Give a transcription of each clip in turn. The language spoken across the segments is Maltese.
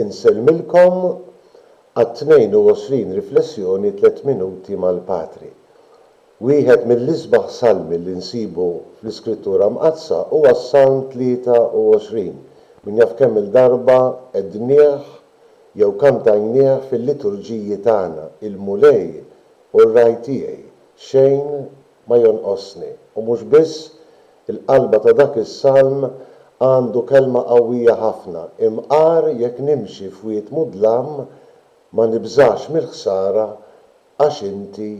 Insellmilkom għat-22 riflessjoni Tliet Minuti mal-Patri. Wieħed mill-isbaħ salmi li nsibu fl-Iskrittura Mqaddsa huwa s-Salm 23. Min jaf kemm-il darba qegħdnieh jew kantajnieh fil-liturġiji tagħna, Il-Mulej hu r-Ragħaj tiegħi, xejn ma jonqosni. U mhux biss, il-qalba ta' dak is-salm għandu kelma qawwija ħafna, Imqar jekk nimxi f'wied mudlam, ma nibżax mill-ħsara għax inti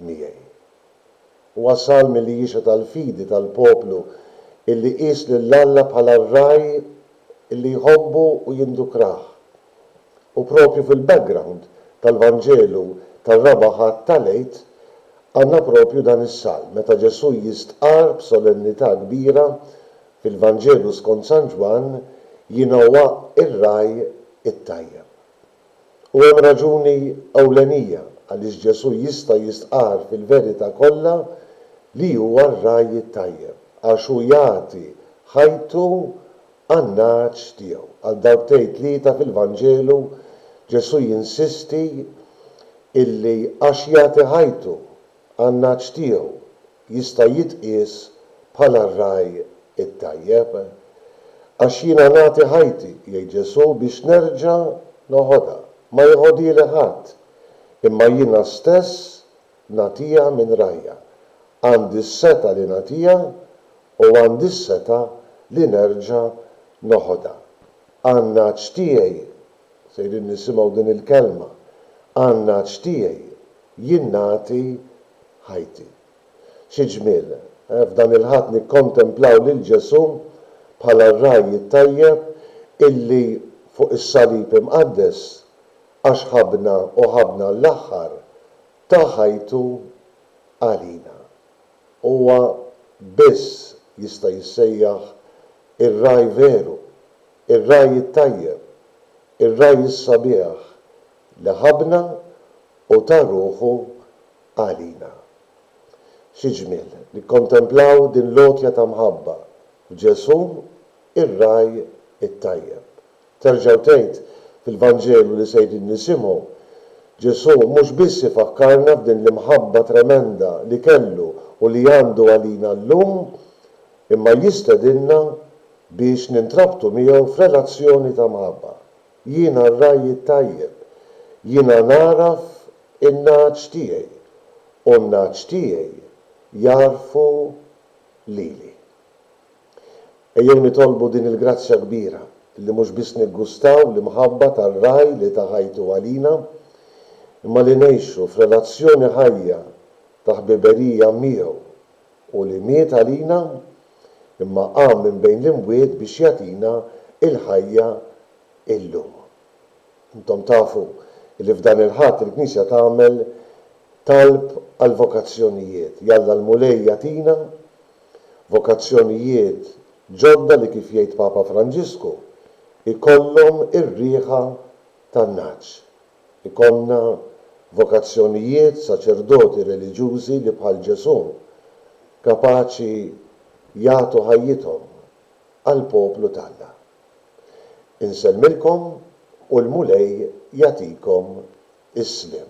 miegħi. Huwa salm li jixhed għall-fidi tal-poplu illi qies lil Alla bħala r-ragħaj illi jħobbu u jindukrah. U proprju fil-background tal-Vanġelu tar-Raba' Ħadd tal-Għid għandna proprju dan is-salm meta Ġesù jistqarr b'solennità kbira fil-Vanġelu skont San Ġwann, Jiena huwa r-ragħaj it-tajjeb. U hemm raġuni ewlenija għaliex Ġesù jista' jistqarr fil-verità kollha li huwa r-ragħaj it-tajjeb, għax hu jagħti ħajtu għan-nagħaġ tiegħu. Għal darbtejn tlieta fil-Vanġelu Ġesù jinsisti illi għax jagħti ħajtu għan-nagħaġ tiegħu jista' jitqies bħala r-ragħaj it-tajjeb. Għax jiena nagħti ħajti, jgħid Ġesù, biex nerġa' noħodha. Ma jeħodhieli ħadd, imma jiena stess nagħtiha minn ragħajja. Għandi s-setgħa li nagħtiha u għandi s-setgħa li nerġa' noħodha. Għan-ngħaġ tiegħi, sejrin nisimgħu din il-kelma, għan-ngħaġ tiegħi jien nagħti ħajti. Xi ġmiel, eh, f'dan il-Ħadd nikkontemplaw lil Ġesù bħala r-ragħaj it-tajjeb illi fuq is-salib imqaddes, għax ħabbna u ħabbna għall-aħħar, ta ħajtu għalina. Huwa biss jista' jissejjaħ ir-ragħaj veru, ir-ragħaj it-tajjeb, ir-ragħaj is-sabiħ li ħabbna u ta ruħu għalina. Xi ġmiel nikkontemplaw din l-għotja ta' mħabba f'Ġesù, ir-ragħaj it-tajjeb! Terġa' u tgħid, fil-Vanġelu li sejrin nisimgħu, Ġesù mhux biss ifakkarna f'din l-imħabba tremenda li kellu u li għandu għalina llum, imma jistedinna biex nintrabtu miegħu f'relazzjoni ta' mħabba. Jiena r-ragħaj it-tajjeb. Jiena nagħraf in-nagħaġ tiegħi, u n-nagħaġ tiegħi jagħrfu lili. Ejjew nitolbu din il-grazzja kbira, li mhux biss niggustaw l-imħabba tar-Ragħaj li ta ħajtu għalina, imma li ngħixu f'relazzjoni ħajja ta' ħbiberija miegħu u li miet għalina, imma qam minn bejn l-imwiet biex jagħtina l-ħajja illum. Intom tafu li f'dan il-Ħadd il-Knisja tagħmel talb għall-vokazzjonijiet, Jalla l-Mulej jagħtina Vokazzjonijiet ġodda li kif jgħid Papa Franġisku jkollhom ir-riħa tan-nagħaġ. Ikollna vokazzjonijiet, saċerdoti, reliġjużi li bħal Ġesù kapaċi jagħtu ħajjithom għall-poplu t'Alla. Insellmilkom u l-Mulej jagħtikom is-sliem.